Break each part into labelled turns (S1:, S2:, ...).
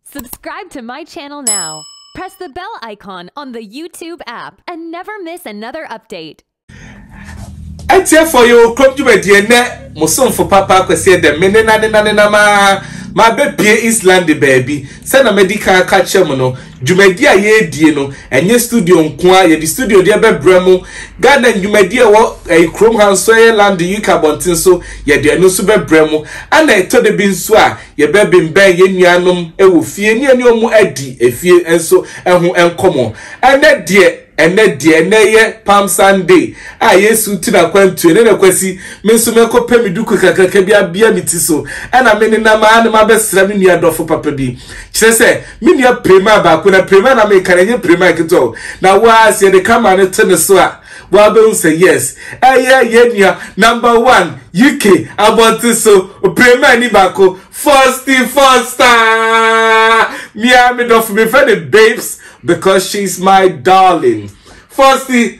S1: Subscribe to my channel now. Press the bell icon on the YouTube app and never miss another update. atiefo yɛ okurom dwumadie nnɛ mo somfo papa akwasi dɛm me nenanenanenam a mabɛpie islande baabi sɛ na madi kan aka kyerɛ mo no Dwumadi a yɛredie no, ɛnyɛ studio nko ara, yɛde studio deɛ bɛbrɛ mo. Ghana dwumadi a ɛwɔ ɛyi kurom ha nso ɛyɛ London UK abɔnten so, yɛde ɛno nso bɛbrɛ mo. Ɛna ɛtɔ da bi nso a, yɛbɛbembɛn yɛn nuanom wɔ fie ne yɛne wɔn adi efie nso ɛho nkɔmɔ. Ɛnɛ deɛ, ɛnɛ deɛ, ɛnɛ yɛ Palm Sunday a Yesu ti n'akwantuo. Ɛnɛ na Kwasi, me nso mɛkɔpɛ me duku kakraka bi abea me ti so, ɛna me nenam ara na mabɛsra me nua dɔfo papa bi. Kyerɛ sɛ, Me nua Prema baako na Prema na meka na nye Prema ketewa o na waa sɛ yɛde camera no to ne so a wabɛhu sɛ yes ɛyɛ yɛn nua number one UK abɔnten so Prema ni baako Fosti Fosta mia me dɔfo mefrɛ ne babes because she's my darling Fosti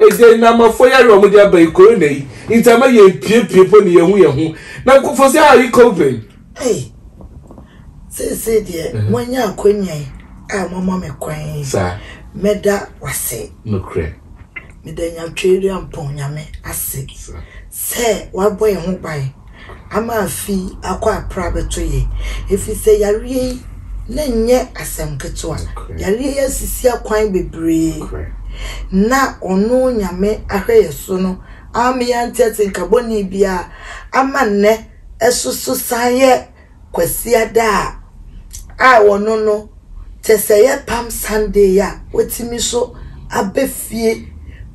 S1: Ɛdeɛn na amafoɔ yareɛ a wɔde aba yi, corona yi, nti ama yɛn pie pie mpo na yɛnhu yɛn ho, na nkurɔfoɔ sɛ how are you coping? Ei, seesei deɛ moanya akwanya yi a moama me kwan yi, mɛda w'ase. Nokorɛ. Meda Nyatweireampɔn Nyame ase sɛ wabɔ yɛn ho ban. ama afi akɔ apra abɛto yɛn, efisɛ yareɛ yi na ɛnyɛ asɛm ketewa. Yareɛ yi asisi akwan bebree na ɔno Nyame ahwɛ yɛ so no ama yɛante atenka bɔne biara ama nnɛ ɛsoso san yɛ Kwasiada a, a ɔno no kyɛ sɛ ɛyɛ Palm Sunday a watumi so aba fie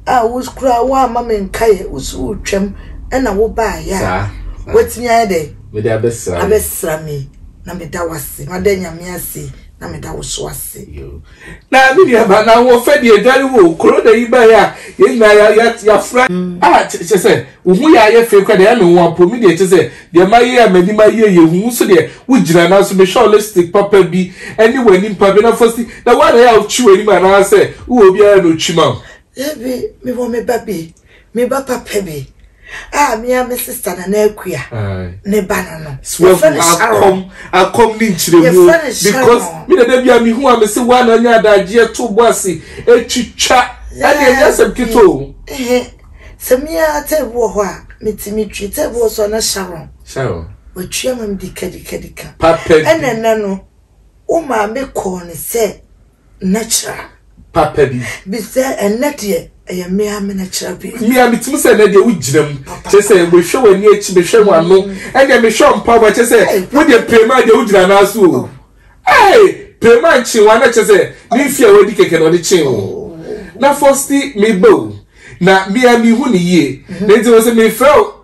S1: a wo koraa woamma me nkaeɛ, wo so wotwam na wobaeɛ a, watumi ayɛ dɛn? Mede abɛsra me. Abɛsra me na meda wo ase, mada Nyame ase na meda wo so ase. Na me nua ba na wo fɛ deɛ dware wo corona yi ba ya yɛ nyina ya ya ya fra. Ah kyɛ sɛ wo ho yɛ ayɛ fɛ kura deɛ ɛme nwa po me deɛ kyɛ sɛ deɛ ma yɛ a m'anim ayɛ yɛ hu wo so deɛ wo gyina na so me hwɛ wo lipstick papa bi ɛne w'anim pa bi na fa si na wo ara yɛ a wo twi w'anim anaa sɛ wo wɔ obiara na otwi ma wo. Dabi me wɔ me ba bi. Me ba papa bi a me a me sista Nana Akua ne ba no no. Yɛfrɛ no Sharon. Akɔm ne nkyerɛmu because me na da bi a mehu a mese woa na anya adagyeɛ to bɔ ase ɛtwitwa ɛne ɛnyɛ asɛm keto o. Sɛ me a tɛɛbu wɔ hɔ a metumi twi tɛɛbu wɔ so a na Sharon. Sharon. Watwia ma me dikadikadika. Papa bi. Ɛna ɛna no wo maame kɔɔ ne sɛ nɛkyerɛ. Papa bi. Bi sɛ, Ɛnnɛ deɛ ɛyɛ me ara me nɛkyerɛ bi? Me ara metumi sɛ, Ɛnnɛ deɛ wogyina mu. Kyerɛ sɛ, mehwɛ w'ani akyi, mehwɛ w'ano, ɛnneɛ mehwɛ mpaboa. Kyerɛ sɛ, wodeɛ Prema deɛ wogyina anan so o. Ei! Prema nkyee wo ana? Kyerɛ sɛ, ne mfeɛ a wadi kɛkɛ na ɔde kyee wo. Na Fosti, meba o, na me ara mehu no yie, na enti wɔse mefrɛ wo.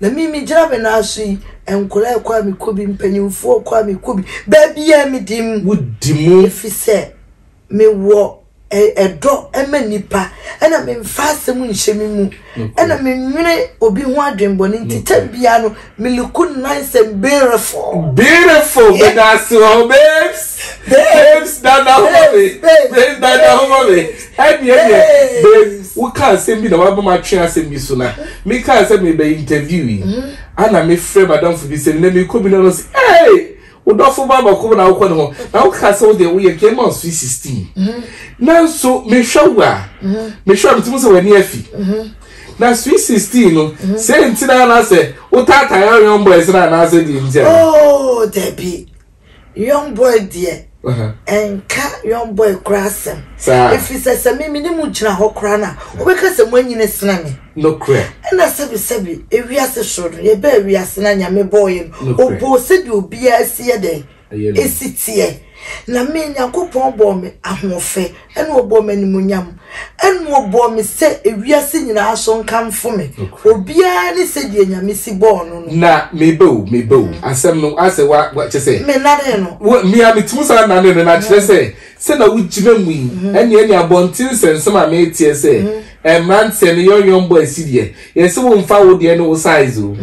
S1: Na me me gyina me nan so yi nkɔla ɛkɔ a me kɔ bi mpanyinfoɔ ɛkɔ a me kɔ bi baabiaa me di mu wo di mu efisɛ me wɔ ɛdɔ ɛma nipa ɛna me nfa asɛm nhyɛ me mu ɛna me nwene obi ho adwen bɔ ne nti tɛm biaa no me luku nice and beautiful beautiful me da se hɔ babes babes dada hɔ me babes dada hɔ me. Ɛnneɛ deɛ babe woka asɛm bi na waba mu atwe asɛm bi so na mekaa sɛ mebɛ interview yi ana mefrɛ madamfo bi sɛ nnɛ mekɔ bi no no se ee wodɔfo ba bako na wokɔ ne ho na woka sɛ wodeɛ woyɛ kɛ ma ɔsoi 16 nanso mehwɛ wo a mehwɛ a metumi sɛ w'ani afi na soi 16 no sɛ nti na anaasɛ wotaatae aweɔn boys no anaasɛ deɛ nti a oh dabi Young boy deɛ ɛnka young boy kora asɛm ɛfiri sɛ sɛ me mene mu gyina hɔ kora no a wobɛka sɛ moanyini sena me ɛna sɛbisɛbi ewiase soro no yɛbɛɛ wiase no a nyame bɔɔyɛ no ɔbɔɔ sɛdeɛ obiara si yɛ dɛn ɛsi teɛ na me nyankopɔn bɔɔ me ahoɔfɛ Ɛna ɔbɔɔ me animuonyam. Ɛna ɔbɔɔ me sɛ ewiase nyinaa so nkamfo me. Obiara ne sɛdeɛ Nyame si bɔɔ no no. Na meba o, meba o. Asɛm no, asɛ wa, wa, kyɛ sɛ. Me nanee no. Wo, me a metumi saa nanee no, na kyerɛ sɛ, sɛ na wogyina mu yi, ɛne, ɛne abɔnten nsɛnsɛm a meteɛ sɛ, ɛɛ, mmeranteɛ no, yɔnyɔn bɔ asi deɛ, yɛse wo mfa wo deɛ ne wo size o.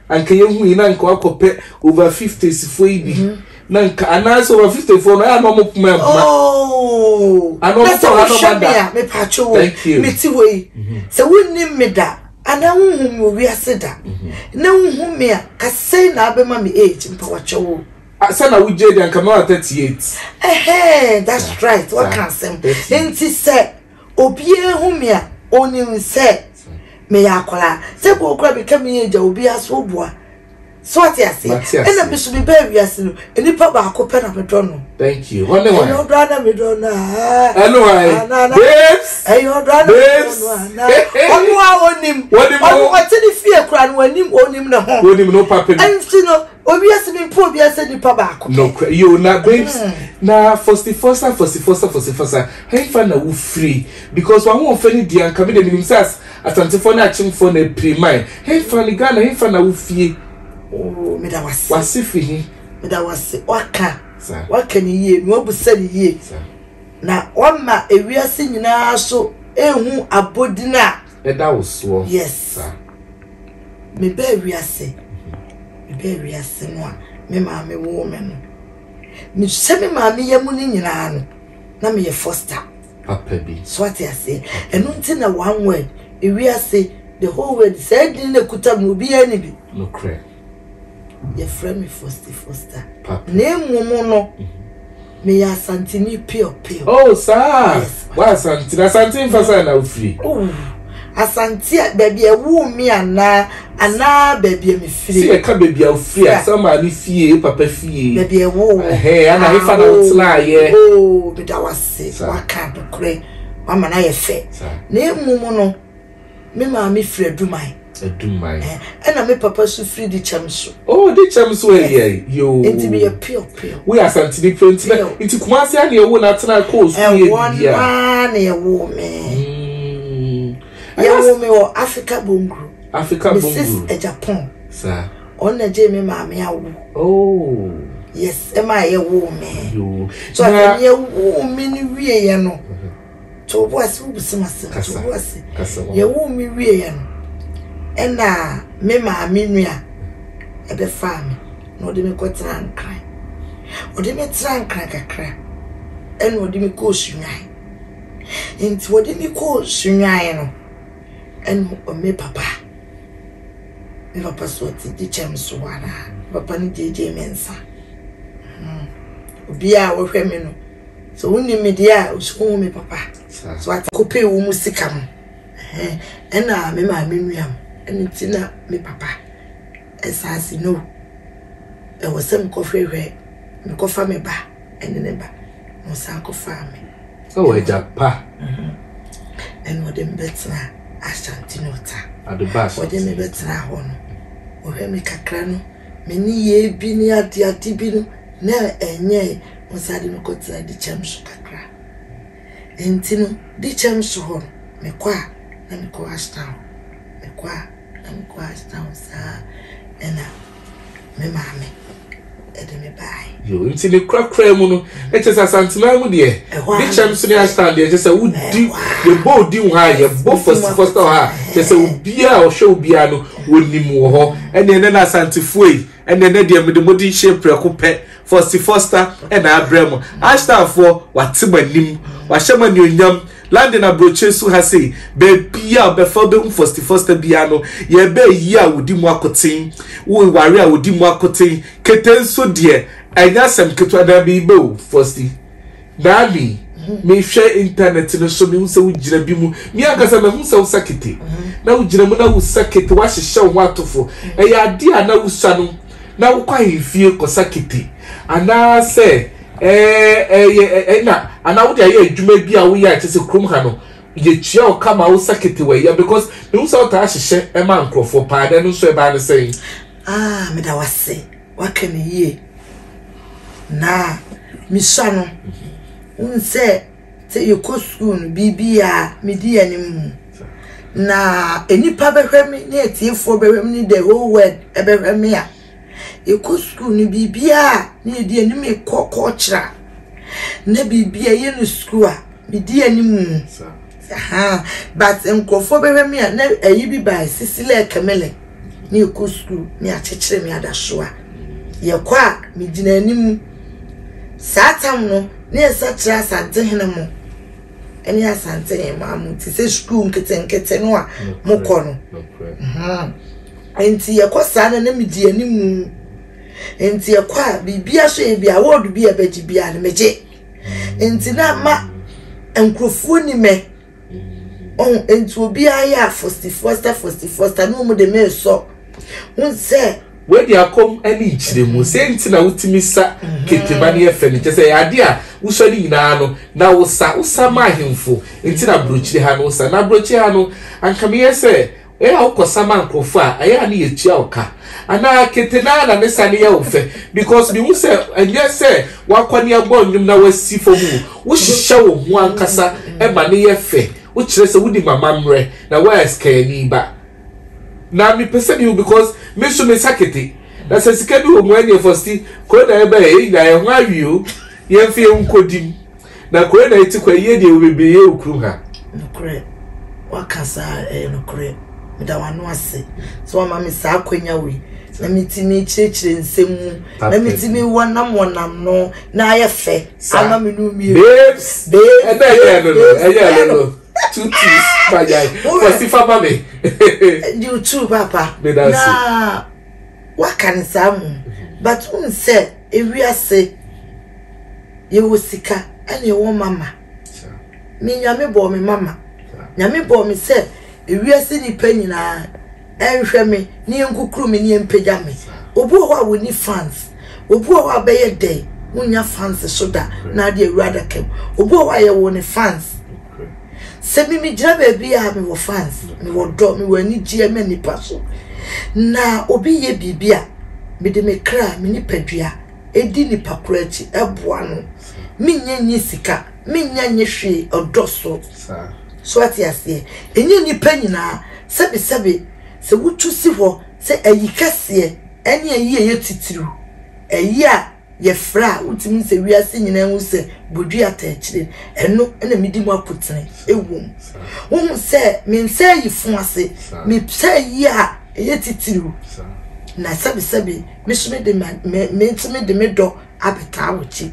S1: Anka yɛhu yi na anka wakɔpɛ over fifties foɔ yi bi. na nka anaasɛ wɔn afitefoɔ no ɛyà na wɔn poma mpoma. ooo na sɛ wohwɛ mi a mepatwo wo mi ti hɔ yi mhm. sɛ wonni mi da anaa wohu mi wɔ wiase da mhm. na wohu mi a kasɛn na abɛma mi age mpawatwa wo. sɛ na wogye di anka mɛwa thirty eight. ɛhɛn that's right waka asɛm nti sɛ. Obiara hu me a, ɔnim sɛ meyɛ akwadaa. Sɛ kuro kura me ka meyɛ agya, obiara so boa. So ate aseɛ? Ɛna me so me bɛɛ wiase no, nipa baako pɛ na me dɔ no. Thank you. Hɔ ne wan? Ɛyɛ ɔdɔ ana me dɔ no aa. Ɛne wan? Babes. Ɛyɛ ɔdɔ ana me dɔ no ana. Ɔno a ɔnim. Ɔno ɔte ne fie kura no ɔnim ɔnim ne ho. Ɔnim no papa bi. Ɛnti no. Owiase mi mpo owiase nipa baako. Nokura yo na babes mm. na fosifɔsa fosifɔsa fosifɔsa hɛnfa na wo free because wɔn ahoɔfɛ ne di anka mi de mi nim sɛ asantefo na akyemfo na apiri man hɛnfa ne Ghana hɛnfa na wo fie. Oo oh, mi da wase. Wase firi hi. Mi da wase waka waka ne yie na wabusa ne yie na wama ewiase nyinaa so ehu abodin a Ɛda wo soɔ yes saa. Me baa wiase me baa wiase no a me maame woo me no me hyɛ me maame yɛ mu no nyinaa no na me yɛ foster papa bi so ate ase ɛno nti na one word ewiase the whole world saa din na kuta mu obiara ni bi nokorɛ Yɛfrɛ me Fosti Fosta. Na mmom no, meyɛ Asanteni pure pure. Oh, saa. Yes. Wa Asante, Asante mfa saa na ofiri. Oh. Asante a baabi a ɛwoo me anaa anaa baabi a mefiri. Sɛ yɛka baabi a ofiri a, sɛ maame fie, papa fie. Baabi a ɛwoo. Ɛhɛn, ana efa na wotenaeɛ. Oh, meda wo ase, waka nokorɛ, wama no ayɛ fɛ. Na mmom no, Me maame firi Aduman. Aduman. Eh, ɛna me papa so firi di kyɛm so. Oh, di kyɛm so ɛyɛ eh, eh, yoo. Nti mi yɛ pio pio. Wo yɛ asantini pio nti na nti kumasi ani ewo na atena kɔɔ sukuu yɛ bibia. Ɛwɔ naa na ɛwɔ mi. Hmm. Yɛ wɔ mi wɔ Africa Bonguru. Africa Bonguru. Mrs. Ejapon. Sa. Ɔna gye mi maame awo. Oh. Yes, ɛma yɛ wɔ mi. Yoo. So ɛmi yɛ wɔ mi ni wie yɛ no. Mm -hmm. Tow bo ase, wobisa me asɛm. Tow bo ase. Yɛwoo me wieeɛ no, ɛna me maame nua ɛbɛfaa me na ɔde me kɔtenaa Nkran. Ɔde me tenaa Nkran kakra, ɛna ɔde me kɔɔ Sunyaan. Nti ɔde me kɔɔ Sunyaan no, ɛna me papa, me papa so ɔte gye kyɛm so hɔ anaa? Me papa no gyeegyee me nsa. Hmm. Obiara a ɔhwɛ me no, Sɛ wonni me deɛ a, osuo ho me papa. So ate? Kɔpɛ wo mu sika mo. Ɛna me maame nua mo. Ɛno ti na me papa. Ɛsaase no. Ɛwɔ sɛ mekɔhwehwɛ, mekɔfa me ba ɛne ne ba. Na ɔsan kɔfaa me. Ɛwɔ agya pa. Ɛna ɔde me bɛtena Ashanti North. Ɔde me bɛtena hɔ no. Ɔhwɛ me kakra no. me nneyɛɛ bi ne adeade bi no na ɛnyɛe, mesan de no kɔtenaa Dikyɛm so kakra. Enti no, Dikyɛm so hɔ no, mekɔ a, na mekɔ Ashtown. Mekɔ a, na mekɔ Ashtown saa ara. Ɛnna me maame de me baeɛ. Nti ne korakoraa mu no, ɛkyɛ sɛ Asanteman mu deɛ, ne kyɛm so ne ashtan deɛ, ɛkyɛ sɛ wodi, yɛbɔ odi wɔ ha, yɛbɔ fɔsi fɔsi wɔ ha, kyɛ sɛ obiara a ɔhwɛ obiara no, wɔnim wɔ hɔ. Ɛneɛ nɛ na Asantefoɔ yi, ɛneɛ nɛ deɛ mede mode nhyɛ prɛko pɛ, fɔsi fɔsta na abrɛ mo. Ashtanfoɔ, wɔate mo anim, wɔahyɛ mo anuonyam, London aburokyire so ha sei, baabiara ɔbɛfa wobɛhu fɔsi fɔsta biara no, yɛbɛɛ yie a wɔdi mu akoten, wo ware a wɔdi mu akoten, Kete nso deɛ ɛnyɛ asɛm ketewa na meba o Fosti, Naani, mehwɛ internet no so mehu sɛ wogyina bi mu, me ankasa mahu sɛ wosa kete na wogyina mu na wosa kete woahyehyɛ wo ho atofo, ɛyɛ adeɛ a na wosa no na wokɔ ahemfie kɔsa kete anaasɛ ɛyɛ ɛna anaa wode ayɛ adwuma bi a woyɛ a kyɛ sɛ kurom ha no yɛkyia wo ka ma wosa kete wɔ ɛyɛ because mehu sɛ wotaa hyehyɛ ɛma nkurɔfoɔ paa na ɛno nso ɛbaa ne sɛn? Ah meda wo ase waka no yie na mesua no wohu sɛ sɛ yɛkɔ sukuu no biribia medi yɛ ne mu na nnipa bɛhwɛ me ne atiefoɔ bɛhwɛ me ne the whole world ɛbɛhwɛ me a yɛkɔ sukuu no biribia ne yɛdi yɛ ne mu kɔ kɔɔkyerɛ a na biribia yɛ no sukuu a medi yɛ ne mu Ahaa but nkurɔfoɔ bɛhwɛ me a na ayi bi bae sisi lɛ kɛme lɛ ne ɛkɔ sukuu ne akyekyere me adasoa yɛkɔ a me gyina anim saa tam no ne ɛsa kyerɛ asante hene mo ɛne asante hene mo amo te sɛ sukuu nketenkete no a mokɔ no nti yɛkɔ saa na na medi anim nti yɛkɔ a biribia so yɛ bi award bi a ɛbɛgye bia no megye Nti na ama nkurɔfoɔ ni mɛ. Ɔho, nti obiara yɛ a fosti fosta fosti fosta na wɔn de meresɔ. Wɔn sɛ. Wɔadi akɔm ne nkyerɛ mu. Sɛ nti na wotumi sa mm-hmm. keteba ne ɛfɛ no kyɛ sɛ ade a wosɔ ne nyinaa no na wosa wosa ma ahemfo nti na aburokyire ha no wosa na aburokyire ha no anka meyɛ sɛ Ɛyɛ a wokɔsa ma nkurɔfo a, ɛyɛ a na yɛtua wo ka, anaa kete no ara na ne sane yɛ wo fɛ? Because mihu sɛ ɛnyɛ sɛ woakɔ ne abɔ nnwom na woasi fam o, wohyehyɛ wo ho ankasa ma no yɛ fɛ, wokyerɛ sɛ wonim amammerɛ, na woayɛ sikayɛni ba. Na mepɛ sɛ mihu because me nso mensa kete, na sɛ sika bi wɔ mu a ɛnneɛ Fosti, kuro na yɛbaeɛ, yɛn nyinaa yɛn ho awe o, yɛmfa yɛn ho nkɔdi mu. Na kore na eti kwa yie deɛ wɔ bebree yɛ wɔ kurom ha. Nokorɛ, waka saa ɛyɛ nokorɛ. Meda w'ano ase sɛ wama me saa akwanya wei na metumi kyerɛkyerɛ nsɛm mu na metumi wɔnam wɔnam no na ayɛ fɛ ama me no mmienu. Babes, babes, ɛna ɛyɛ no no, ɛyɛ no no. Two teas, fagyae, wɔsi fa ma me. You too, papa. Meda ase. Na. waka no saa mmom but wohu sɛ ewiase yɛwɔ sika ɛna ɛwɔ mama me nyame bɔɔ me mama nyame bɔɔ me sɛ ewiase nipa nyinaa ɛnhwɛ me ne yɛnkukuru me ne yɛmpagya me obi wɔ hɔ a wɔni fans obi wɔ hɔ a bɛyɛ dɛn wonya fans so da na ade awura adaka mu obi wɔ hɔ a yɛwɔ ne fans Sɛ me megyina baabi a mewɔ fans, mewɔ dɔ, mewɔ anigyeɛ ma nnipa so. Na obi yɛ biribi a, mede me kra, me nipadua, ɛdi nipa koro akyi, ɛboa no. Menyɛ nye sika, menyɛ nye hwee ɔdɔ so. So ate aseɛ? Ɛnyɛ nnipa nyinaa sɛbesɛbe sɛ wotu si hɔ sɛ ayi kɛseɛ ɛne ayi ɛyɛ titiriw, ayi a Yɛfrɛ a wotumi hu sɛ wiase nyinaa hu sɛ bodua ta akyire no, ɛno na medi mu akotene ɛwom. Wohu sɛ me nsa ayi fo ase, me nsa ayi a ɛyɛ titiriw, na sɛbesɛbe me so me de me nso me de me dɔ abɛtaa wo kyi.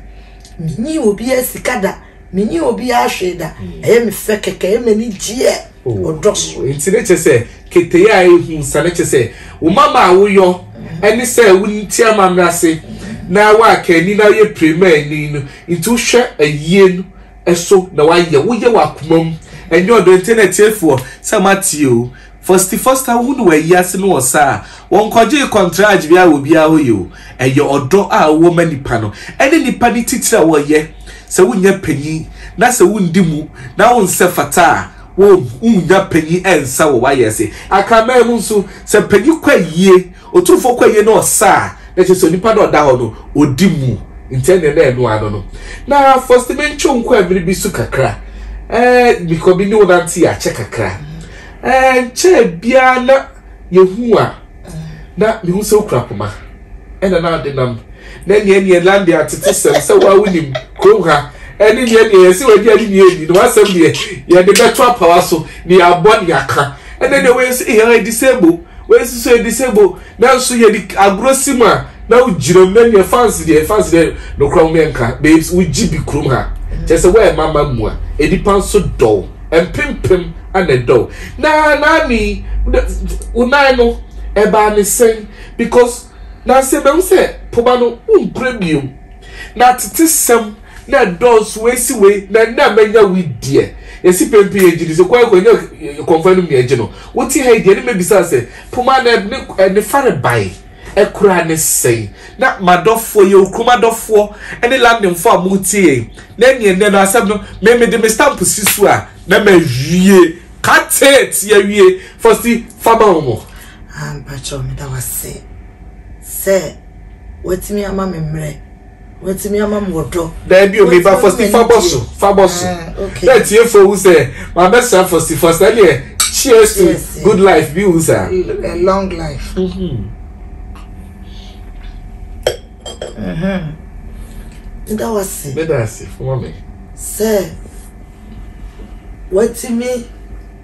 S1: Menyii obiara sika da. menye obiara hwee da hmm. ɛyɛ me fɛ kɛkɛ ɛyɛ m'ani gyeɛ oh. ɔdɔ so nti ne kyɛ sɛ ketee a ɛhu sa ne kyɛ sɛ wo mama a woyɔ hmm. ɛne sɛ wonti amammerɛ ase hmm. na woaka ani na woyɛ pirema ani no nti wohwɛ ayie no ɛso na woayɛ woyɛ w'akoma mu ɛnyɛ ɔdɔ nti na atiefoɔ sɛ moatie o Fosty Foster wohu no wɔ ayiase no wɔ sa a wɔnkɔgyee kɔntrage biara wɔ obiara hɔ yi o. Ɛyɛ ɔdɔ a wowɔ ma nipa no ɛne nipa no titire a wɔyɛ sɛ wonyɛ panyin na sɛ wondi mu na wonsɛ fata a wonnya panyin nsa wɔ w'ayiase. Akraman mu nso, sɛ panyin kɔ ayie Otumfo kɔ yie na ɔsa a, na kyerɛ sɛ onipa no a ɔda hɔ no, ɔdi mu, nti ɛnneɛ na ɛno ara no no. Na Fosti mentwe wo nkɔ ɛmene bi so kakra eh, mekɔ me ne wo nante yɛ akyɛ kakra eh, nkyɛɛ biara na yɛhu a na mehu sɛ wokura poma ɛna na ade nam na ɛneɛ ɛneɛ lande atete sɛm sɛ woa wonim kurom ha ɛne neɛ neɛ yɛse wadi ade neɛ ani no wasɛm deɛ yɛde bɛto apawa so ne yɛabɔ ne yɛaka ɛnɛ deɛ wei nso yɛ disable wei nso so yɛ disable nanso yɛ de agorɔ si mu a na wogyina mu na deɛ fans deɛ fans deɛ nokora wɔn yɛ nka babes wogye bi kurom ha kyɛ sɛ wɔyɛ mama mu a nnipa nso dɔw mpempem ana dɔw na naani wonan no ɛbaa ne sɛn because na sɛ bɛn sɛ poba no wonkura bio na tete sɛm na ɛdɔɔso wei si wei na ɛnna a manya wei deɛ yɛsi pɛmpɛ yɛ gyidi sɛ kwan kwan nyɛ kɔnfa no nea ɛgye no wote ha yi deɛ ne mɛbisa sɛ poma na ne ne fare bae ɛkora ne sɛn na madɔfoɔ yɛ okurom adɔfoɔ ne landemfoɔ a motie yɛn na ɛne ɛnɛ no asɛm no me mede me stamp si so a na mawie katet yɛwie fɔsi fama wo mo ampakyɛ meda wase sɛ watumi ama me mmerɛ Watumi ama mo ɔdɔ. Daabi o, meba Fosti fa bɔ so, fa bɔ so. Na atiefo hu sɛ mabɛsra Fosti, Fosti ɛdeɛ cheers to good life bi hu saa. A long life. Meda wase. Meda ase, foma me. Sɛ watumi.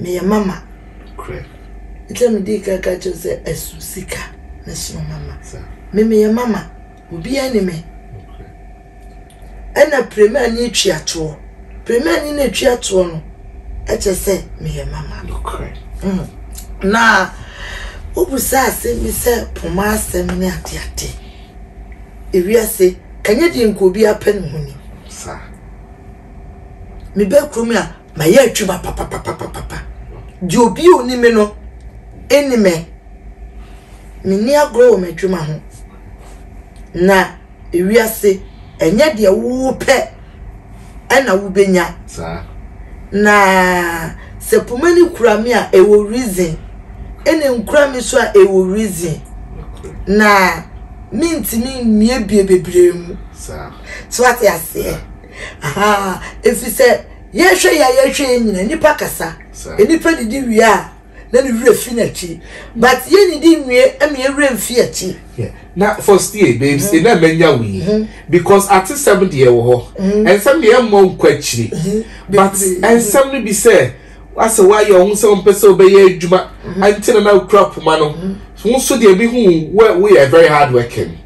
S1: meyɛ mama. Nokorɛ. Enti na medii kan ka kyerɛ wo sɛ ɛso sika na ɛsono mama. Me meyɛ mama, obiara nni me. Nokorɛ. Ɛna Premani atwi atoɔ. Premani no atwi atoɔ no, ɛkyɛ sɛ meyɛ mama. Nokorɛ. Mm. Na wobisa asɛm bi sɛ poma asɛm ne ade ade. Ewiase, ɛnyɛ deɛ nka obiara pɛ ne ho ni. Saa. Meba kurom a, Mayɛ adwuma papapapapapa. Deɛ obi a ɔni me no nni me. Menni agorɔ wɔ m'adwuma ho. Na ewiase, ɛnyɛ deɛ wopɛ ɛna wobɛnya. Na sɛ poma no kura me a, ɛwɔ reason. Ɛna nkura me so a, ɛwɔ reason. Na mentumi mmie bie bebree mu. So ate aseɛ? Ahaa efisɛ yɛhwɛ yi a yɛhwɛ yi nyina nipa kasa nipa didi wie a na ne werɛ fi n'akyi but yɛ nidi nwie ɛma yɛ werɛ mfi akyi. Na Fostie babes mm-hmm. ɛna manya wo yi mm-hmm. because atesɛm deɛ wɔ hɔ mm-hmm. ɛnsɛm deɛ ɛmmɔ nkɔ akyiri but ɛnsɛm no bi sɛ asɛ woayɛ ɔho sɛ wompɛ sɛ wobɛyɛ adwuma nti na na wokura poma no wo nso deɛ bi hu woyɛ very hard working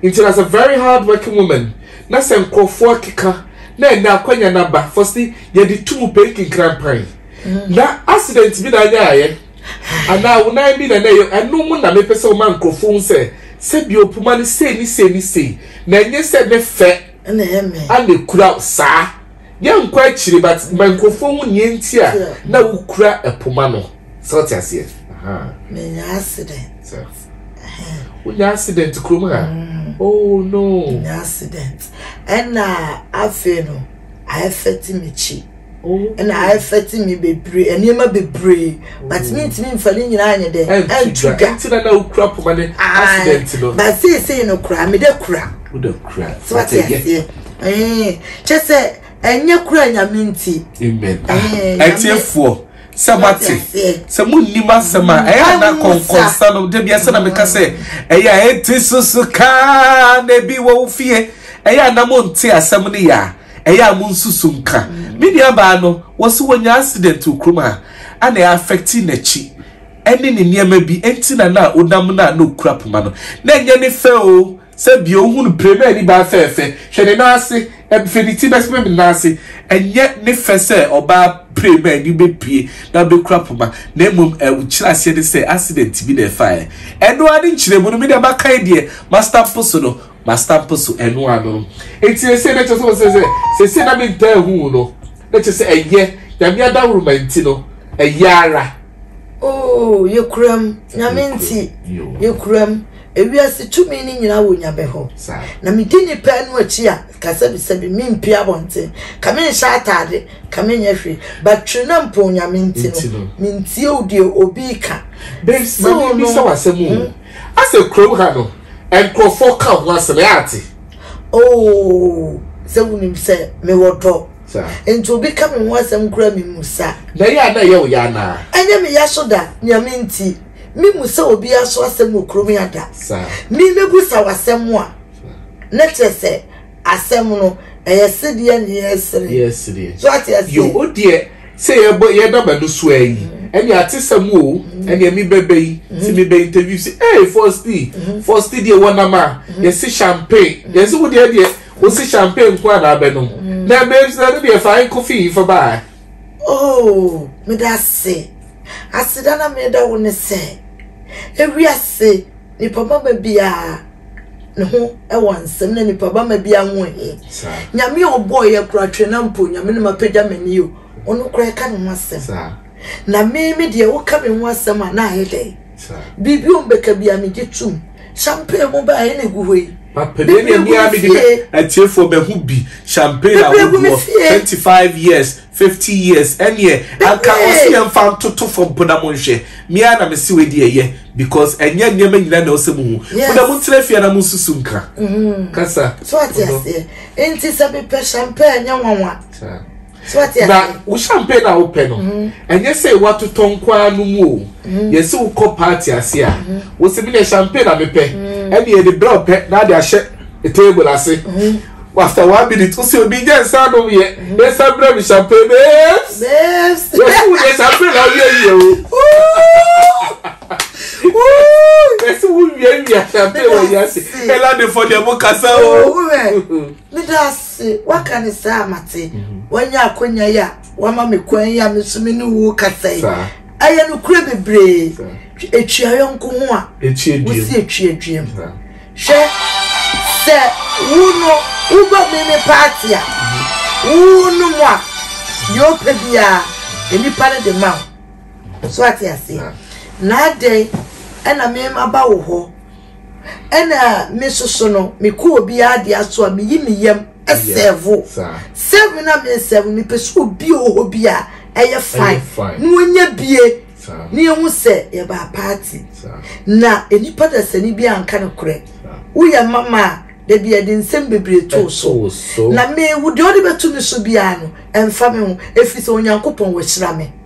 S1: nti na sɛ very hard working woman Na sɛ nkorɔfoɔ akeka na ɛnɛ akwanya no aba fɔ se yɛde tu mu pɛi kenkran pan na accident bi na anyaeɛ anaa wo nan bi na na ɛyɛ ɛno mu na mepɛ sɛ woma nkorɔfoɔ hu sɛ sɛdeɛ puma no sei ne sei ne sei na ɛnyɛ sɛ ne fɛ ana ɛkura wo saa yɛnkɔ akyire but ma nkorɔfoɔ hu neɛ nti a na wokura puma no sɛ wote aseɛ. Menyaa accident. wonya accident kurom ha mm. oh no nya accident ɛna afei no ayɛfɛte m'akyi oh. ɛna ayɛfɛte me bebree nneɛma bebree oh. but mentumi mfa ne nyinaa nyɛ dɛ ɛntu ga ɛnti na na wokura poma ne accident no ba seesei no kura mede kura wode kura sɛ wate aseɛ kyɛ sɛ ɛnyɛ kura nyame nti ɛtiefoɔ sɛ moate sɛ monnim asɛm a ɛyɛ ana kɔnkɔnsa no da biasɛ na meka sɛ ɛyɛ a ɛnte susu kaa na ebi wɔ wo fie ɛyɛ a na monte asɛm no yɛ a ɛyɛ a monsusu nka mm. me nuabaa no wɔ so wɔnya accident wɔ kurom a ana ɛafɛkte n'akyi ɛne ne nneɛma bi ɛnti na na wonam no a na ɔkura poma no na ɛnyɛ ne fɛ o Sɛ deɛ ɔhu no pire na anibaa fɛɛfɛ, hwɛ ne nan ase, ɛfiri ne ti bɛsem ne nan ase, ɛnyɛ ne fɛ sɛ ɔbaa pire ma ani bɛbue na ɔbɛkura poma, na mmom nkyerɛaseɛ ne sɛ accident bi na ɛfaeɛ. Ɛno ara ne nkyerɛmu no, me deɛ makan deɛ mastampo so no, mastampo so, ɛno ara no. Nti seesei na kyerɛ sɛ wɔsɛ sɛ seesei na mentaa hu no, na kyerɛ sɛ ɛyɛ Nyame adawuruma nti no, ɛyɛ ara. Oh, yɛkuram, Nyame nti, yɛkuram. Ewiase tumi no nyinaa wɔ Nyame hɔ. Na medi nnipa no akyi a, kasabisɛbi, mempue abɔnten, ka menhyɛ ataade, ka menyɛ hwee. But twerenempɔn Nyame nti no, mentie o deɛ obi reka. Mese wo no hmm. Asɛ kurom ha no, nkurɔfoɔ ka ho asɛm ɛ ate. Oh, sɛ wonim sɛ mewɔ dɔ. Nti obi ka me ho asɛm koraa memu sa. Na ɛyɛ a na ɛyɛ wo ya anaa? Ɛnyɛ me ya so da, Nyame nti. Me mu sɛ obi aso asɛm wɔ kurom ya da. Me me bu sa wasɛm a. Ne kyerɛ sɛ asɛm no ɛyɛ sedeɛ ne yɛ sereɛ. So ate aseɛ. Yo o deɛ sɛ yɛ bɔ yɛ daba no so ayi. Mm-hmm. Ɛne ate sɛm o mm-hmm. ɛne mi bɛbɛ yi. Ti mm-hmm. mi bɛ interview si ee fɔsti fɔsti deɛ wɔ nam a yɛ si champagne yɛ si wo deɛ deɛ wɔ si champagne nko a na abɛ nom. Na ɛbɛ sɛ ne deɛ fa ayɛ kofi yi fa baa. Oh, meda ase. Aseda na meda wo ne sɛ, ewi ase nipa bama biara ne ho wɔ nsɛm na nipa bama biara ho he. Nyame a ɔbɔɔ yɛ kora twe na mpo nyame no mapagya m'ani o, ɔno kora ɛka ne ho asɛm. Na me me deɛ woka me ho asɛm a na ayɛ dɛn? Biribi o mbɛka bi a megye tum. Champagne mu baa ɛna egu hɔ yi. Bebree gu me fie. Atiefoɔ bɛho bi champagne ahodoɔ twenty five years fifty years ɛneɛ anka ɔsi yɛn fa ntoto fam pona mo nhwɛ mia na mesi wei deɛ yɛ because ɛnyɛ nneɛma nyina na ɔsɛ mu hu pona mo ntena fie na mo nsusu nkra mm-hmm. kasa. So ate aseɛ nti sɛ mepɛ champagne nyɛ nwanwa. na wo champagne a wopɛ no ɛnyɛ sɛ watotɔ nko ara no mu o yɛsi wo kɔ party ase a wosi mi na champagne na mepɛ ɛna yɛde brɛ ɔpɛ na ade ahyɛ table ase after one minute wosi obi gya nsa nom yɛ nsa brɛ mi champagne babes yɛsi wo deɛ champagne na ɔyɛ yie o yɛsi wo wia wia champagne wɔ yɛ ase ɛna de fɔ deɛ mo kasa o. Se woaka no saa a, mate. Woanya akwanya yi a woama me kwan yi a me nso me ne wo rekasa yi. Ɛyɛ nokorɛ bebree. Ɛtwea yɔnko ho a, wosi ɛtwea duam. Hwɛ, sɛ wo no woba me me paate a, wo no mu a, deɛ ɔpɛ biara, nnipa no de ma wo. So ate aseɛ? Na adɛn ɛna me maba wo hɔ Ɛna me soso no me kɔ obi ade aso a me yi me yam sɛvo sɛvo na me sɛvo me pɛ sɛ obi wɔ hɔ bi a ɛyɛ fine na wɔnyɛ bie ne ehu sɛ yɛbaa paati na nipa dasani bi anka no korɛ woyɛ mama a da bi yɛde nsɛm bebree too so na me wo deɛ ɔde bɛto me so biara no ɛmfa me ho ɛfiri sɛ onyankopɔn wahyira me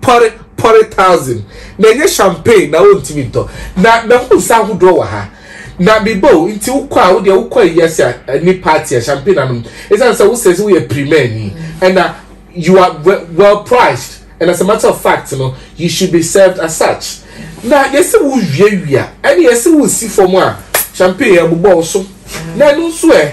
S1: pɔre pɔre thousand na ɛnyɛ champagne na ɔntumi ntɔ na mahu nsa ahodoɔ wɔ ha na meba o nti wokɔ a wodeɛ wokɔ ayi ase a ani party a champagne anom ɛsiane sɛ wosɛ sɛ woyɛ primani ɛna you are well, well priced and as a matter of fact no you should be served as such na yɛsɛ wo wiawia ɛne yɛsɛ wo si fam a champagne ɛbobɔ wo so na ɛno nso ɛ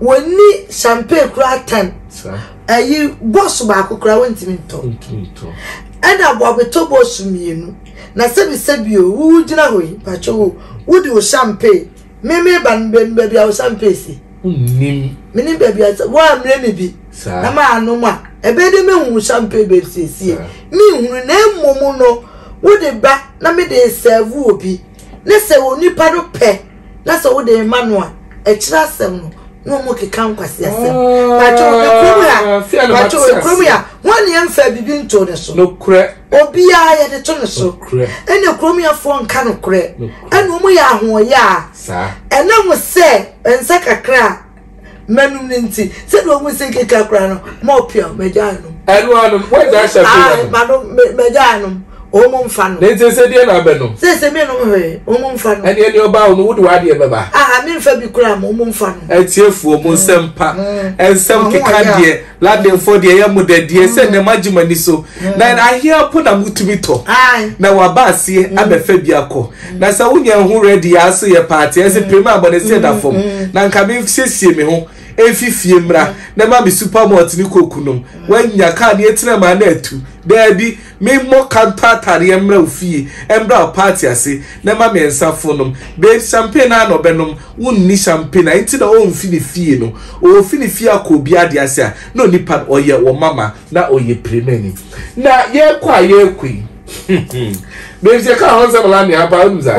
S1: Wɔnni champagne koraa tɛn. Ayi bɔs baako koraa wɔntumi ntɔ. Ɛna aboabetɔ bɔs mmienu. Na sɛbisɛbi o, wo wogyina hɔ yi, mpakyɛ wo, wode wo champagne, me meba no menim baabi a wo champagne si. Wonnim. Menim baabi a, woammrɛ me bi. Saa. Na maanom a, ɛbɛyɛ dɛ mehu wo champagne baabi siesie. Menhunu na mmom no, wode ba na mede resɛɛvo obi. Ne sɛ onipa no pɛ. na sɛ wode rema no a ɛkyerɛ asɛm no na wɔn keka nkwasi asɛm oh, pàtó ekurom yà ah, pàtó ekurom yà wọn ni ɛnfɛ bibi nto ne so obiara yɛde to ne so ɛna ekurom yà fo nka no korɛ ɛna wɔn yɛ ahoɔyɛ a ɛnam sɛ nsa kakra M'anom no nti sɛdeɛ ɔmu se keka koraa no mɔ pia magya anom. Ɛno anom wɔ ɛdza ahyɛ so anom. Manom magya anom ɔmu mfa nom. Ne nti sɛ deɛ na abɛ nom. Sɛ sɛ me nom hwee ɔmu mfa nom. Ɛneɛ deɛ ɔba wo no wode w'adeɛ bɛba. Aa me mfa bi koraa ma ɔmu mfa nom. Atiefoɔ mo nsɛm pa nsɛm keka deɛ Ladenfoɔ deɛ ɛyɛ mo dɛ deɛ sɛ nnɛ moagye mo ani so na ahea po na motumi tɔ na waba aseɛ abɛfa bi akɔ na sɛ wonya ho rɛdi yɛ aso yɛ paate ɛse pem a bɔneseɛ da fam na nka mesiesie me ho ɛmfi fie mmra na ma me supermalt ne koku nom woanya kaa ne ɛtena mu a na atu daabi Me mmɔ ka ntɔ ataadeɛ mmra wo fie ɛmbra wo party ase na ɛma me nsa fo nom babe champagne aa na ɔbɛ nom wo nni champagne a nti na ɔnfi ne fie no ɔfi ne fie akɔ obi adeɛ ase a na onipa no ɔyɛ wɔ mama na ɔyɛ pirimani na yɛkɔ a yɛkɔ yi hmm babes yɛka ho nsɛm la nea paa wonim saa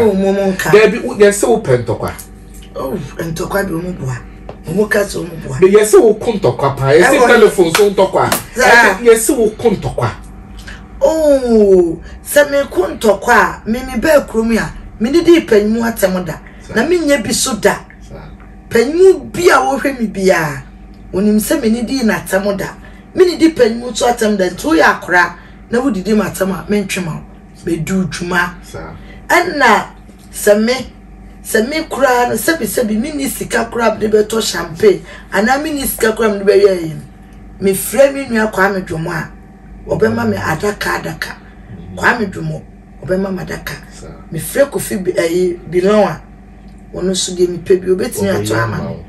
S1: daabi yɛse wo pɛ ntɔkwa. Oh ntɔkwa bi ɔmo boa ɔmo ka sɛ ɔmo boa. yɛsi wo ko ntɔkwa paa yɛsi telefon so ntɔkwa yɛsi wo ko ntɔkwa. ooo sɛ mi ko ntɔkwa a mi mi bɛɛ kurom a mi ni di panyimu atɛm da na mi nyɛ bi so da panyimu bi a wɔhwɛ mi biara onim sɛ mi ni di na atɛm da mi ni di panyimu so atɛm da nti woyɛ akora na wodidi ma atɛm a mi ntwe ma o bɛ du dwuma ɛna. Sɛ me, sɛ me koraa no, sɛbisɛbi menni sika koraa a mede bɛtɔ champagne anaa menni sika koraa a mede bɛyɛ ayi no, mefrɛ me nua Kwame Dwomo a, ɔbɛma me adaka adaka. Kwame Dwomo, ɔbɛma me adaka. Mefrɛ Kofi ɛyi Bilɔn a, ɔno nso deɛ mepɛ bi ɔbɛtumi atɔ ama me.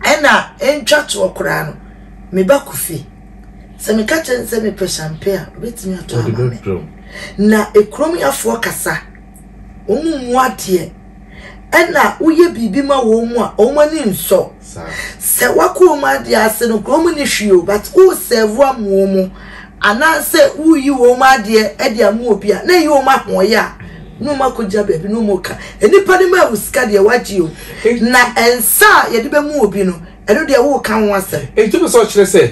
S1: Ɛna ɛntwa toɔ koraa no, me ba Kofi, sɛ meka kyerɛ no sɛ mepɛ champagne a, ɔbɛtumi atɔ ama me. Na ekurom yafoɔ kasa. wɔmmu adeɛ ɛna woyɛ biribi ma wɔn mu a wɔn ani nsɔ sɛ wakɔ wɔn adeɛ ase no kuro wɔn ni hwee o but wo sɛvo amoɔ mu anaasɛ woyi wɔn adeɛ ɛde amu obi a na eyi wɔn ahoɔyɛ a na wɔn akɔgya baabi na wɔn ka nipa no ma ewu sika deɛ wagye o na nsa a yɛde bɛ mu obi no ɛno deɛ wo ka ho asɛm. Eti mi sɛ ɔkyerɛ sɛ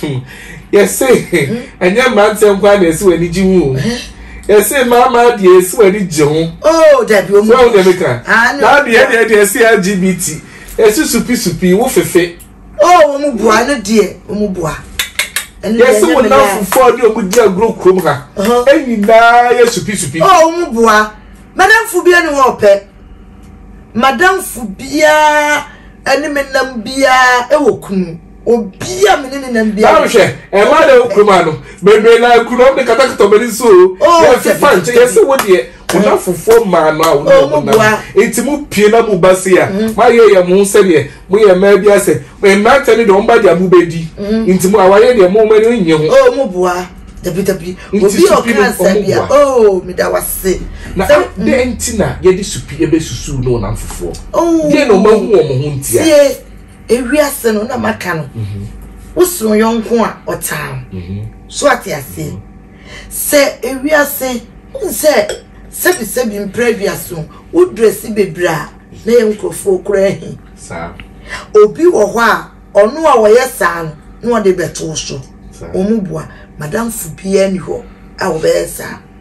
S1: Hmm. Yɛse ɛnyɛ mmeranteɛ nkoa na ɛsi w'ani gye ho yɛse mmarima deɛ ɛsi w'ani gye ho. Oh, dabi omu. Sɛ ɔdeɛ mi kan. Ah, no. N'adeɛ deɛ deɛ ɛsi LGBT ɛsi supi supi wo fefe. Oh, wɔn mu bua ɛno deɛ wɔn mu bua. Yɛse wɔn nan fufuo a ɔde wɔn di agorɔ kurom ha. Ɛnyinaa yɛ supi supi. Oh, wɔn mu bua. Madamfo bi ɛni hɔ ɔpɛ. Madamfo biara ɛni mi nam biara ɛwɔ kunu. obi a me ne ne nam bi a hwɛ ɛma na kuroma no bebree na kuroma de katakata wɔn ani so o fifa nti yɛsi wo deɛ wɔn mm. afofoɔ mmaa no a wɔn oh, wɔn nam nti mu pie na mu ba se a mm. mo ayɛ yɛ mo sɛdeɛ mo yɛ mmaa bi asɛ mmeranteɛ no deɛ wɔn ba deɛ mo bɛ di mm. nti mu awaye deɛ mo wɔn ani nye ho. o oh, mo bua dabi dabi obi a ɔka nsɛm bi a oo mi da wa se. na adeɛ nti na yɛde supi ebe susu na wɔn afofoɔ. deɛ na wɔn ahu wɔn ho ntia. Ewiase no na maka no. Mhm. Wosono yɔnko a ɔtaa wo. Mhm. So ate aseɛ. Mhm. Sɛ ewiase wohu sɛ sɛbisɛbi mpra aduase ho wodrɛsi bebree a na yɛ nkurɔfoɔ koraa ahi. Saa. Obi wɔ hɔ a ɔno a ɔyɛ saa no na ɔde bɛto so. Wɔn boa madamfo biara ni hɔ a wɔbɛyɛ saa.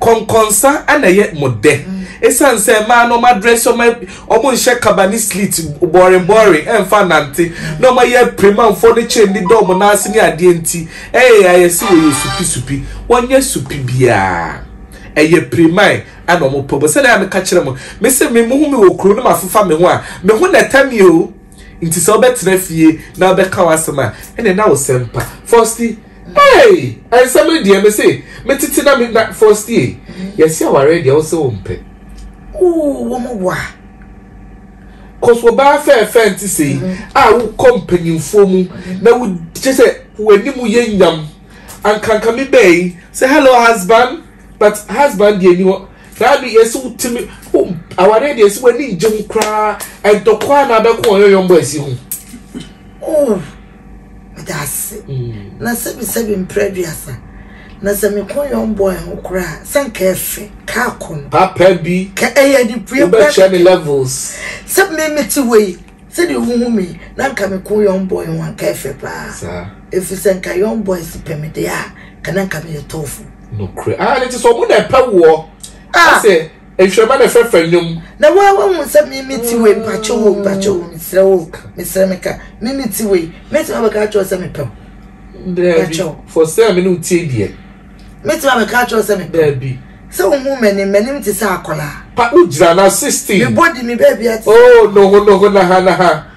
S1: Kɔnkɔnsa na ɛyɛ mo dɛ esiane sɛ mmaa no wɔadrɛse wɔn, wɔnhyɛ kaba ne sleet bɔɔren bɔɔren mfa nnante na wɔayɛ apiremanfoɔ ne chain de dɔ wɔn nan ase ne adeɛ nti, ɛyɛ ayɛ sɛ wɔyɛ supi supi. Wɔnyɛ supi biara. Ɛyɛ piriman na wɔpɛ bɔ. Sɛdeɛ a meka kyerɛ mo, me se me mohu me wɔ kuro no mafefa me ho a, me ho na ɛtɛ me o. Nti sɛ wobɛtena fie na wobɛka w'asɛm a, ɛnneɛ na wo sɛm pa. Fausti, Hey! Nsɛm no deɛ me se me tete na me na Fostie yɛse awareɛ deɛ wo se wo mpɛ. Ooh wɔn mo boa. Cause wɔbaa fɛɛfɛɛ nti sei mm-hmm. a wokɔ mpanyinfoɔ mu na wo kyɛ sɛ w'anim yɛ nyam ankanka me bɛyi sɛ hello husband but husband deɛ ni hɔ na adu yɛse wotumi awareɛ deɛ sɛ w'ani ngye ho koraa ɛdɔkɔ a na abɛkɔ ɔyɔyɔmbɔ asi ho. Oh. Meda ase. Na sɛbisɛbi mprɛ aduasa. Na sɛ me kɔn yɔn bɔn ho kora a, sɛ nka ɛfɛ, ka akɔ no. Papa bi, wobɛkyɛ me levels. Sɛ me mete hɔ yi, sɛdeɛ wohu me yi, na nka me kɔn yɔn bɔn ho a, nka ɛfɛ paa. Ɛfiri sɛ nka yɔn bɔn si pɛ me deɛ a, nka na nka meyɛ tɔɔfo. Nokorɛ. Ah, ne te sɛ ɔmo na ɛpɛ woɔ. Ah. Asɛ. Nhwɛma ne fɛfɛ nnwom. Na wo a woahu sɛ me me ti wei, mpakyɛw o, mpakyɛw o, mesrɛ wo, mesrɛ me ka, me me ti wei, mɛtumi abɛka akyerɛ wo sɛ mepɛ wo. Daabi, fɔ sɛ me ne wo tie deɛ. Mɛtumi abɛka akyerɛ wo sɛ mepɛ wo. Daabi. Sɛ wohu m'anim, m'anim te sɛ akwadaa. Pa, wogyina na 16. Me body, me baabi ate sɛ. Oh, noho noho, naha naha.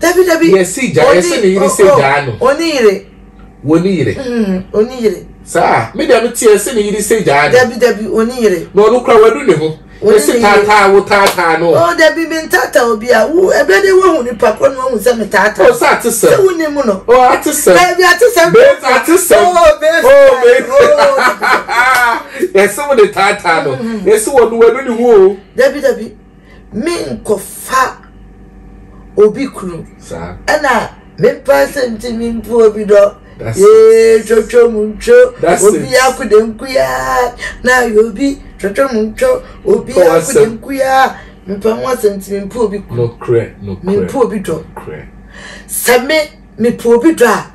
S1: dabi dabi. yɛ si gya yɛ sɛ ne yere sɛ gyaa no. wɔ ne yere. wɔ ne yere. wɔ ne yere. saa me deɛ mi ti yɛ sɛ ne yere sɛ gyaa no. dabi dabi wɔ ne yere. na ɔno kura wadu ne ho. yɛ si taataa wo taataa no. ɔ dabi mi ntaataa obi a wo ɛbɛ de wahu nipa kɔ na wahu sɛ mi taataa. o sɛ ate sɛ. sɛ wo ni mu no. o ate sɛ. dabi ate sɛ. bɛsi ate sɛ. o bɛsi. o bɛsi. yɛ si wo de taataa no. yɛ si wɔ no wadu ne ho o. dabi dabi. menkɔfa obi kunu ɛna mepa sɛ nti mempo obi dɔ yee twotwo mu ntwo obi akode nkuyaa na ayɛ obi twotwo mu ntwo obi akode nkuyaa mepa ho asɛm nti mempo obi kunu mempo obi dɔ sɛ me mepo obi dɔ a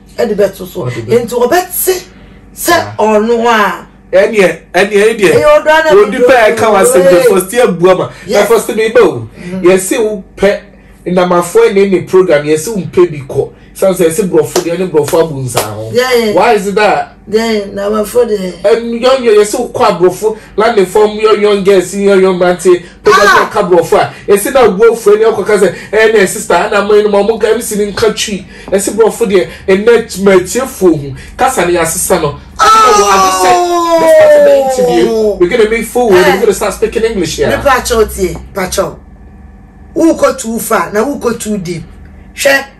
S1: ɛde bɛto so nti ɔbɛte sɛ ɔno a ɛneɛ ɛneɛ ɛdeɛ wɔdi pɛ ɛka wasɛm de fɔsti abua ma na fɔsti mi ba o mm-hmm. yɛsi wo pɛ nnamafoɔ ne ne program yɛsi wo mpɛ bi kɔ san sɛ ɛsi borɔfo deɛ ne borɔfo abu nsa ho why is it that. Dɛn na aborɔfo de yɛ? Nyɔnyɔ, yɛse wokɔ aborɔfo lande fam nyɔnyɔ girls nyɔnyɔ mmeranteɛ pɛgya sɛ ɔka aborɔfo a ɛse na ɔbu afu ani akɔka sɛ ɛɛ na ɛsista ana mo nom ɔmo nka MC no nka twi ɛse borɔfo deɛ ɛnɛ matiefoɔ hu kasa no yɛasesa no ɛna wɔ ade sɛ this part of the interview we're gonna move forward we're gonna start speaking English here. Me pakyɛw tie pakyɛw wokɔ too far na wokɔ too deep hwɛ.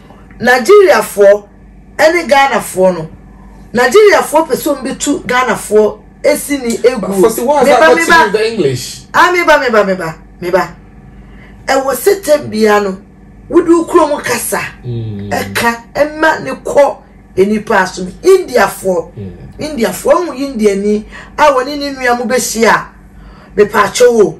S1: Nigeriafoɔ ne Ghanafoɔ no Nigeriafoɔ pɛ sɛ wɔbɛtu Ghanafoɔ sini aguo meba meba ah meba meba meba meba ɛwɔ sɛ tɛ bia no wode wo kurom kasa ɛka ɛma ne kɔ nnipa aso no Indiafoɔ Indiafoɔ ahu Indiani a wɔne ne nua mo bɛhyia a mepaakyɛw o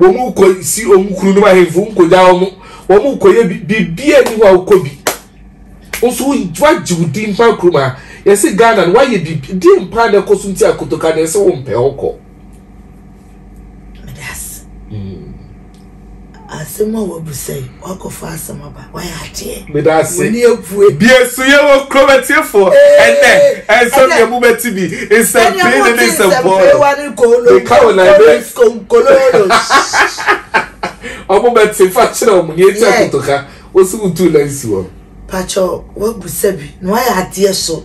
S1: wɔn kɔ si wɔn kunu nom ahemfo nkogya wɔn wɔn kɔ yɛ biribi a ni hɔ a wokɔ bi nso wagye wo din mpa kuruma yɛsi ghana no wayɛ biribi di mpa na ɛkɔ so nti akotoka na ɛsɛ wɔn pɛ ɔkɔ. Hmm. asɛm a wabu sɛ wakɔfa asɛm aba meda ase deɛ so yɛ wɔ kuro bɛtiefoɔ ɛnɛ ɛnsɛm yɛ mu bɛti bi nsɛmpee ne ne nsɛmpɔɔ meka wɔ naibɛ ɔmo bɛte fa kyerɛ ɔmo neɛ ti akotoka wosi wo tu lɛnsi wɔ pakyɛ wabu sɛbi na wayɛ adeɛ so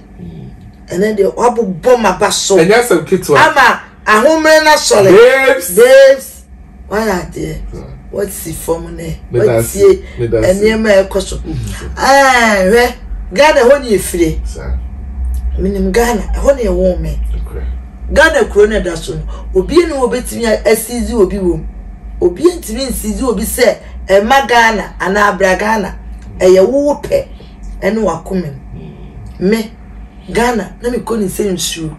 S1: ɛnɛ deɛ wabobɔ ma ba so ɛnyɛ asɛm ketewa ama ahomerɛ no asɔre babes babes wayɛ adeɛ wasi fam nɛ watie nneɛma a ɛkɔ so hwɛ ghana ɛhɔ ne ɛfire menim ghana ɛhɔ ne ɛwoo me ghana kuro no ɛda so no obie ne wɔbɛtumi asizi obi wom obie ntumi nsizi obi sɛ ɛma ghana anaa abra ghana ɛyɛ wowo pɛ ɛne wakoma mu me ghana na mekɔ ne sɛ nsuo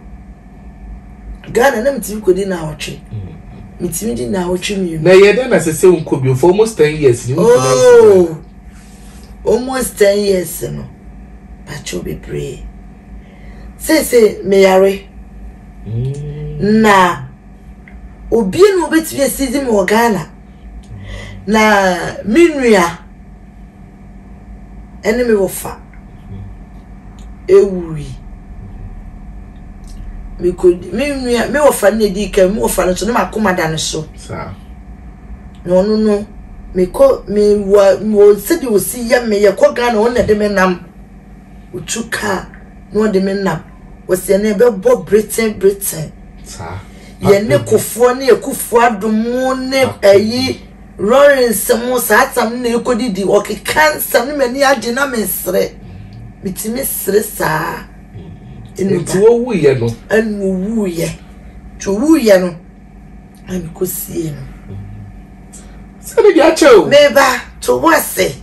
S1: Ghana na metumi kɔ di naawɔtwe. Metumi di naawɔtwe mmienu. Na yɛ dɛ na sɛ sɛ nkɔ bio for almost ten years ni nkɔ na oh, almost ten years no patro bebree. Sese meyare. Mm. Na obi na obetumi asidi mu wɔ Ghana. Na me nua ɛne me wɔfa ɛwuui. Mekɔdi me nua me wɔfa no na ɛdii kan me wɔfa no nso na makoma da no so. Na ɔno no mekɔ me wɔ wɔ sɛdeɛ ɔsi yɛ me yɛkɔ Ghana ɔno na ɛde me nam ɔtu kaa na ɔde me nam wɔsi ɛna ɛbɛbɔ breten breten yɛne kofoɔ ne akufoɔ adomo ne ɛyi. Rory nsɛm ho saa tam no na ɛkɔdidi ɔkeka nsɛm no m'ani agye na mesere metumi sere saa nti wɔwuiɛ no ɛna ɔwuiɛ nti ɔwuiɛ no na mekɔsie no sɛde de akyɛ o meba to wo ase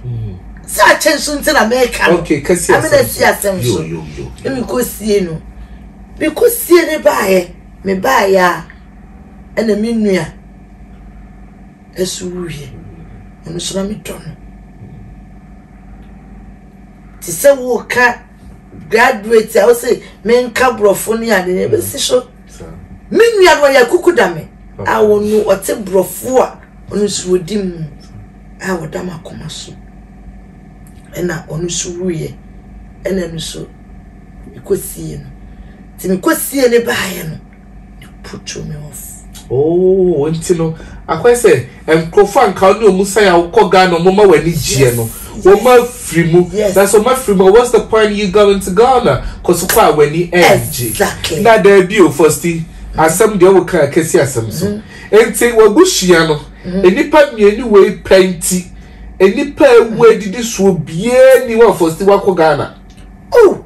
S1: sɛ akyɛ nso nti na meka no amena si asɛm so na mekɔsie no mekɔsie ne baeɛ mebaeɛ a ɛna me nua so wuye. Ɔno nso na medɔ no. Te sɛ woka graduate a wose menka borɔfo ne ade ne bɛsi so. Me nua no ɔyɛ kuku da me a ɔno ɔte borɔfo a ɔno nso ɔdi mu a ɔda m'akoma so. Ɛna ɔno nso wuiɛ. Ɛna ɛno nso mekɔsie no. Nti mekɔsie ne baeɛ no. You put me off. Oh, nti no, akɔyɛ sɛ nkurɔfoɔ a nka wo ne wɔn san a wokɔ Ghana wɔn ma w'ani gyeɛ no, wɔn afiri mu. Na sɛ wɔn afiri mu, what's the point you going to Ghana? Cause wokɔ a w'ani ɛngye. Exactly. Na daabi o, Fosti, asɛm deɛ woka a kɛsi asɛm so. Mm-hmm. Nti w'abusua no, mm-hmm. nnipa mmienu wei pɛ nti, nnipa a ɛwu adidi soɔ biara ni hɔ a Fosti wakɔ Ghana. Oh!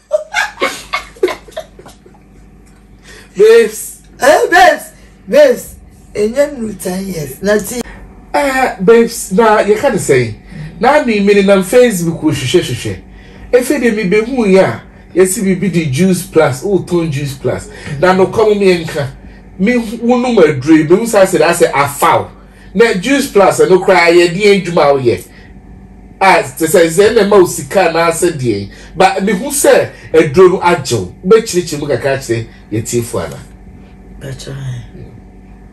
S1: babes eh babes babes ɛnyɛ nuru ten years na ti eh babes na yɛka ne sɛn na me me nenam facebook hwehwɛ hwehwɛ efe de me behu yɛ a yɛsi biribi de juice plus o tɔn juice plus na nokwa mu me nka me wonum aduro yi mehu saa sɛ asɛ afaw Na Juice Plus ɛno koraa yɛ deɛn adwuma a woyɛ a te sɛ sɛ ɛna ɛma wo sika anaasɛ deɛn ba mehu sɛ aduro no agye wo wobɛkyerɛkyerɛ mu kakra kyerɛ yɛtiefoɔ ana bɛkyɛ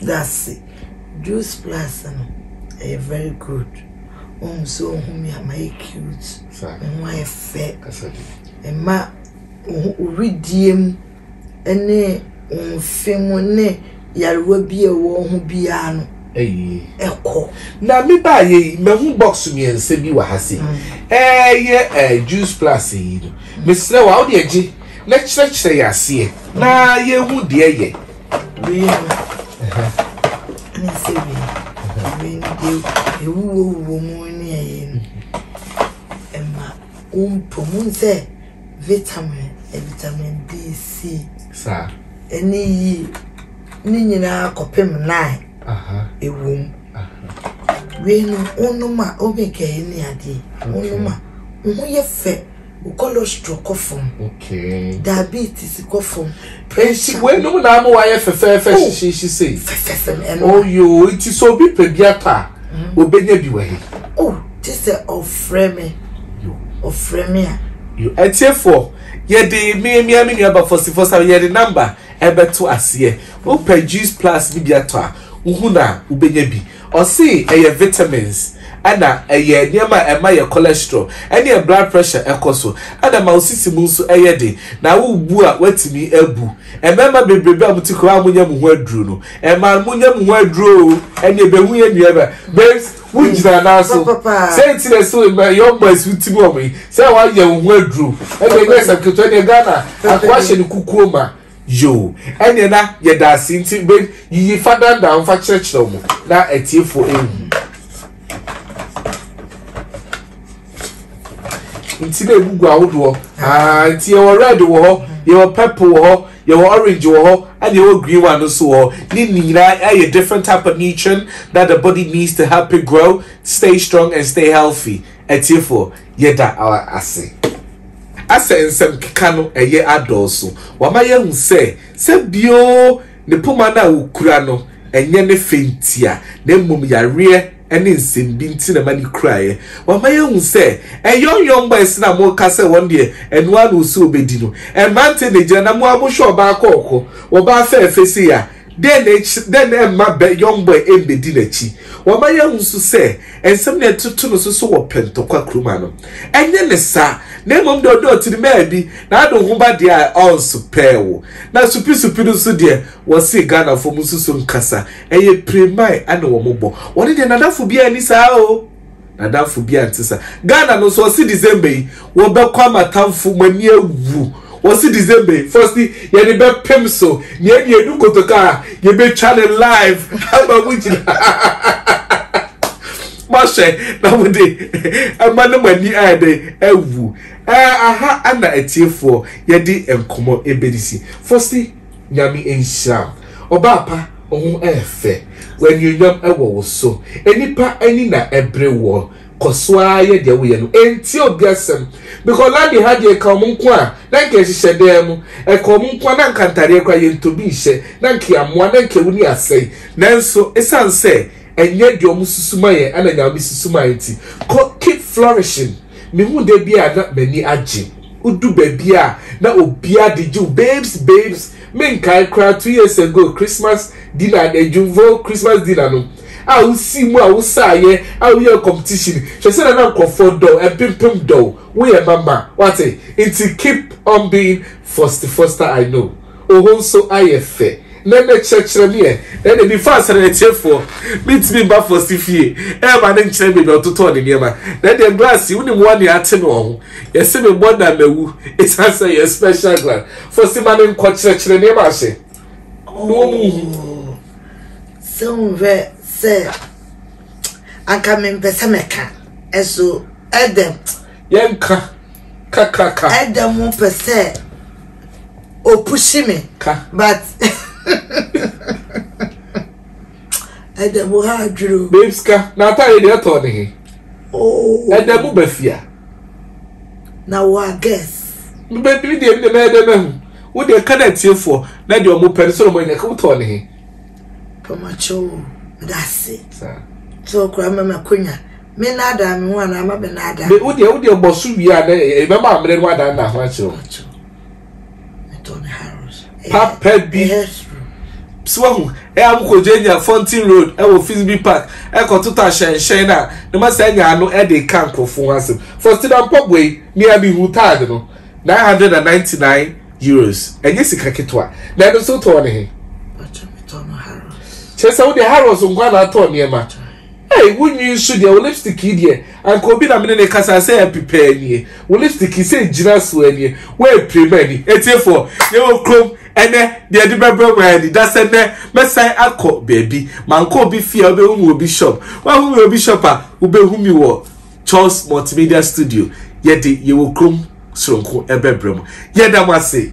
S1: dase Juice Plus no ɛyɛ very good ohun sɛ ohun mi ama yɛ cute ohun ayɛ fɛ ɛma ohun oridie mu ne wɔn mfe mu ne nyarewa bi a ɛwɔ wɔn ho biara no kɔ. Na me ba yɛ yi mahu box mmiɛnsa bi wɔ ha se ɛyɛ ɛɛ juice plus yi no mesrɛ wa wode agye na kyerɛkyerɛ yɛ aseɛ na yɛhu deɛ yɛ. wei no ɛne sɛ wei wei no deɛ ɛwuwɔ wuwɔ mu ne ɛyɛ no ɛma wompɔ mu sɛ vitamin, vitamin D, C, ɛne yi ne nyinaa kɔpem nine ɛwɔ mu. Wei no wonom a wobɛ kɛyi ne adeɛ wonom a wo ho yɛ fɛ, wo cholesterol kɔ fam, diabetes kɔ fam. Nti wei nom na ama wayɛ fɛfɛɛfɛ oh, hyehyeehye sei. Fɛfɛɛfɛ na ɛno. Oyoo oh, nti sɛ obi pɛ bi atɔ a mm-hmm. obenya bi wɔ he. O oh, te sɛ ɔfrɛ me ɔfrɛ me a. Atiefoɔ yɛde mmiamia me nua bafɔsifɔ sa yɛde namba ɛbɛto aseɛ wopɛ juice plus ne bi atɔ a wohu na wobenya bi Ɔsee ɛyɛ vitamins ɛna ɛyɛ nneɛma a ɛma yɛ cholesterol ɛne yɛ blood pressure ɛkɔ so ɛna ɛma wo sisi mu nso ɛyɛ den na wo bu a watumi abu. Mmarima bebrebe a mote kurom a monya mo ho aduro no ɛmaa monya mo ho aduro oo ɛne ɛbɛhu yɛ nua ba babes wo gyina nan so sɛ nti na ɛsɛ ma young boys wo ti mu ɔmo yi sɛ wayɛ wo ho aduro ɛne ɛnyɛ sɛm ketewa ɛne Ghana akoa hyɛ ne kukuo ma Yoo, ɛneɛ na yɛda ase nti be yiyi fa dandan ho fa kyerɛkyerɛ wɔn na atiefoɔ ehu. Nti na egu gu ahodoɔ, aa nti yɛwɔ red wɔ hɔ, yɛwɔ purple wɔ hɔ, yɛwɔ orange wɔ hɔ, ɛna yɛwɔ green one nso wɔ hɔ. Ne nyinaa ɛyɛ different type of nutrient that the body needs to help it grow, stay strong and stay healthy. Atiefoɔ, yɛda ara ase. Asɛ nsɛm keka no ɛyɛ adɔɔso. Wama yɛahu sɛ, sɛ bio ne poma no a wokura no, ɛnyɛ ne fɛ ntia, na mmom yareɛ ne nsɛm bi nti na ɛma no kuraeɛ. Wama yɛahu sɛ, ɛyɔn yɔn boys no a moka sɛ wɔn deɛ ɛno ara na wɔsi wɔbɛdi no, mmeranteɛ na ɛgyina na mo ara mohwɛ ɔbaa kɔɔkɔ, ɔbaa fɛɛfɛ sei a, Dɛn na ɛkyerɛ, dɛn na ɛmma bɛ, Young Boy mmedi n'akyi? Wama yɛahu nso sɛ nsɛm na ɛtoto no so so wɔ Pɛntɔkwa kurom ha no. Ɛnyɛ ne saa, na mmom deɛ ɔde ɔtiri maa bi, n'ado ho ba deɛ a ɔnsopɛɛ wo. Na supi-supi no nso deɛ, wɔse Ghanafoɔ mu nso so nkasa, ɛyɛ pire mae na wɔbɔ. Wɔne deɛ, n'adamfo biara nni saa o. N'adamfo bi a nte saa. Ghana no nso ɔsi December yi wɔbɛkɔ ama atamfo mo ani awu. Wɔsi December yi fɔsi yɛde bɛpem so na yɛde edu kotoka a yɛbɛtwa ne live ama mo nyinaa. Moahwɛ na mo de ɛma no mo ani ayɛ dɛ awu. Ɛɛ aha ɛna atiefoɔ yɛde nkɔmɔ ebedisi fɔsi. Nyame nhyira wo ɔbaa pa, wo ho ɛyɛ fɛ, anuonyam wɔ wo so, nnipa ani na ɛbere woɔ, kɔ so ara yɛ deɛ woyɛ no, ntie obi asɛm, because Lady ha deɛ nka wɔn nko a na nka ɛhyehyɛ dan mu, ɛka wɔn nko a na nka ntadeɛ koraa yɛntɔ bi nhyɛ, na nka yɛamoa, na nka wuni asɛe, nanso ɛsiane sɛ ɛnyɛ deɛ wɔn susu ma yɛn ɛna Nyame susu ma yɛn nti, kɔ keep flourishing. Mehu da bi a na m'ani agye Wodu baabi a na obia de gye wo Babes, babes, menkae koraa two years ago Christmas dinner no Adwumfo Christmas dinner no A wosii mu a wosaeɛ a woyɛɛ competition Hwɛ sɛdeɛ na nkurɔfoɔ dɔ wo Mpempem dɔ wo Woyɛ ma ma, woate? Nti keep on being Foste Foster I know Oho nso ayɛ fɛ na ɛnɛ kyerɛkyerɛ me ɛ. Ɛnde me fa asare atiefoɔ me ntumi ba Foste fie ɛɛma no nkyerɛ me baabi a ɔtotɔɔ ne nneɛma na ɛdeɛ glass yi wonim wɔn nea ate no wɔ ho yɛse me bɔ na mawu ɛsiane sɛ ɛyɛ special glass Foste ma no nkɔ kyerɛkyerɛ nneɛma ahyɛ na wɔn nhu sɛ wohwɛ sɛ anka mempɛ sɛ mɛka ɛso ɛdɛm Yɛnka ka ka ka. Ɛda mu pɛ sɛ o push me. Ka. But ɛda mu ha adwuro. Babes ka na atare deɛ ɛtɔ ne he. Oh. Ɛda mu bafia. Na wo a guess. Mbɛdiri deɛ mi deɛ mɛyɛ dɛ mɛhu. Wo deɛ ka na atiefoɔ na deɛ ɔmo pɛ no sɛ ɔmo anya ka wotɔ ne he. Pamakyɛw, medase. Saa. Sɛ ɔkora mɛma konya. Me naadaa me ho anaa ma me naadaa. Me wo deɛ wo deɛ bɔ so wie a dɛ ɛbɛma amena no adan na ho akyerɛ wo. Papa bi so wahu ɛ amukɔgye nya Fountain Road ɛwɔ Fisby Park ɛkɔ toto ahyɛnhyɛn no a ne ma saa nya ano ɛde ka nkurɔfo ho asɛm. Faustina mpaboa yi nea me hu taade no nine hundred and ninety nine euros ɛnyɛ sika ketewa na ɛno nso tɔɔ ne he. Kyerɛ sɛ wo deɛ Harrods nkwa na atɔ nneɛma. Ei wo nwi nso deɛ wo lipstick yi deɛ anka obi na mene no kasa sɛ apipaa nie wo lipstick yi sɛ gyina soa nie woapirem ani atiefoɔ yɛwɔ krom ɛnɛ deɛ de bɛbrɛ mo ani da sɛ nɛ mɛsan akɔ baabi mankɔ obi fie a wobɛhu me wɔ bi shop woahu me wɔ bi shop a wobɛhu me wɔ Charles multimedia studio yɛde yɛwɔ krom soronko ɛbɛbrɛ mo yɛda mo ase.